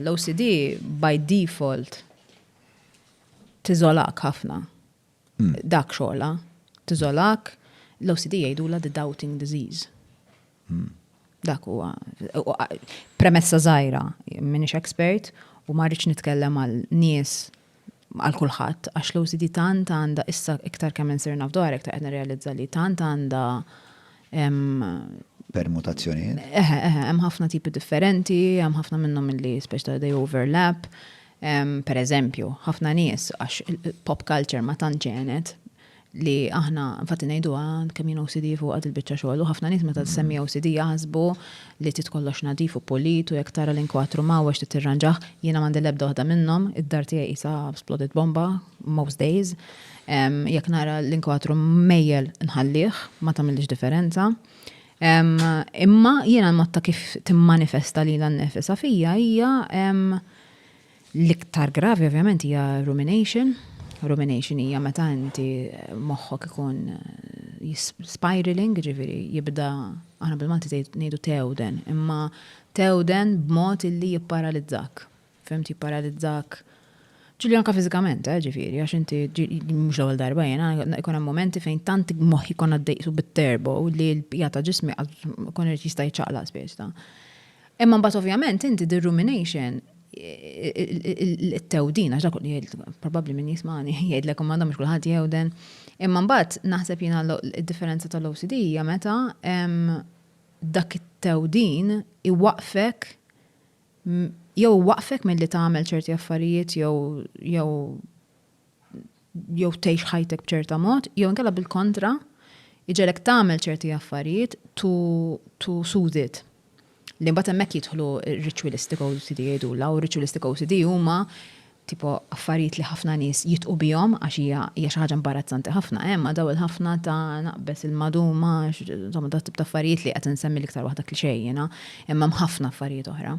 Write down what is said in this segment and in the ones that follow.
L-OCD by default tiżolak ħafna. Dak xogħla. Tiżolak, l-OCD jgħidula the doubting disease. Dak huwa premessa żgħira, minix expert u ma rridx nitkellem għal nies għal kulħadd għax l-OCD tant għandha issa iktar kemm insir naf dwarha iktar qed nirrealizza li tant għandha permutazzjonijiet. Eħe, eħe, hemm ħafna tipi differenti, hemm ħafna minnhom milli speċi ta' they overlap. Per eżempju, ħafna nies għax pop culture ma tant ġenet li aħna infatti ngħiduha kemm jien OCD fuq għad il-biċċa xogħol u ħafna nies meta tsemmi OCD jaħsbu li trid kollox nadif u pulit u jekk tara l-inkwatru mgħawweġ trid tirranġah. Jiena m'għandi l-ebda waħda minnhom, id-dar tiegħi qisha splodit bomba most days. Jekk nara l-inkwatru mejjel nħallih, ma tagħmillix differenza. Imma jiena l-mod ta' kif timmanifesta lilha nnifisha fija hija L-iktar gravi ovvjament hija rumination. Rumination hija meta inti moħħok ikun spiraling, ġifieri jibda aħna bil-Malti ngħidu tewden, imma tewden b'mod illi jipparalizzak. Fimti jipparalizzak ġili anka fizikament, eh, ġifiri, għax inti mux l-ewel darba jena, ikon momenti fejn tant moħi kon għaddejtu bit-terbo li l-pija ta' ġismi kon jista' jċaqla spiex ta' Imma mbagħad ovvjament inti the rumination it-tewdin, għax dak li jgħid, probabbli min jismani, jgħidlek u m'għandhom kulħadd jewden. Imma mbagħad naħseb jiena d-differenza tal-OCD hija meta dak it-tewdin iwaqfek jew waqfek milli tagħmel ċerti affarijiet jew jew tgħix ħajtek b'ċerta mod, jew inkella bil-kontra, iġelek tagħmel ċerti affarijiet to, to soothe it. Li mbagħad hemmhekk jidħlu ritualistic OCD jgħidulha, u ritualistic OCD huma tipo affarijiet li ħafna nies jitqu bihom għax hija hija xi ħaġa imbarazzanti ħafna, hemm eh, daw il-ħafna ta' naqbes il-maduma, insomma dat tip ta' affarijiet li qed insemmi l-iktar waħda klixejjina, imma hemm ħafna affarijiet oħra.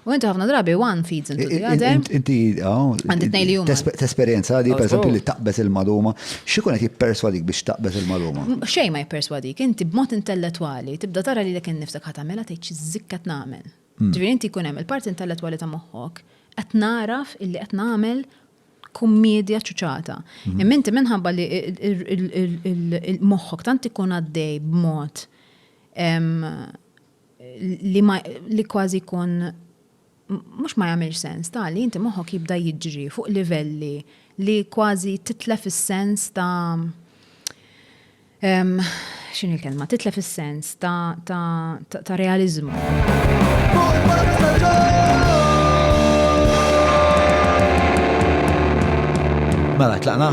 U inti ħafna drabi one feeds into the other. Inti għandi tnej li huma. Tesperjenza li pereżempju li taqbeż il-maluma, x'ikun qed jipperswadik biex taqbeż il-maluma? Xejn ma jipperswadik, inti b'mod intellettwali tibda tara lilek innifsek ħadd tagħmilha tgħid x'żikk qed nagħmel. Ġifieri inti jkun hemm il-parti intellettwali ta' moħħok qed nagħraf illi qed nagħmel kummiedja ċuċata. Imma inti minħabba li moħħok tant ikun għaddej b'mod li ma li kważi jkun mhux ma jagħmilx sens ta' li inti moħħok jibda jiġri fuq livelli li kważi titlef is-sens ta' x'in il-kelma, titlef is-sens ta', ta, ta, ta realizmu. Mela, tlaqna?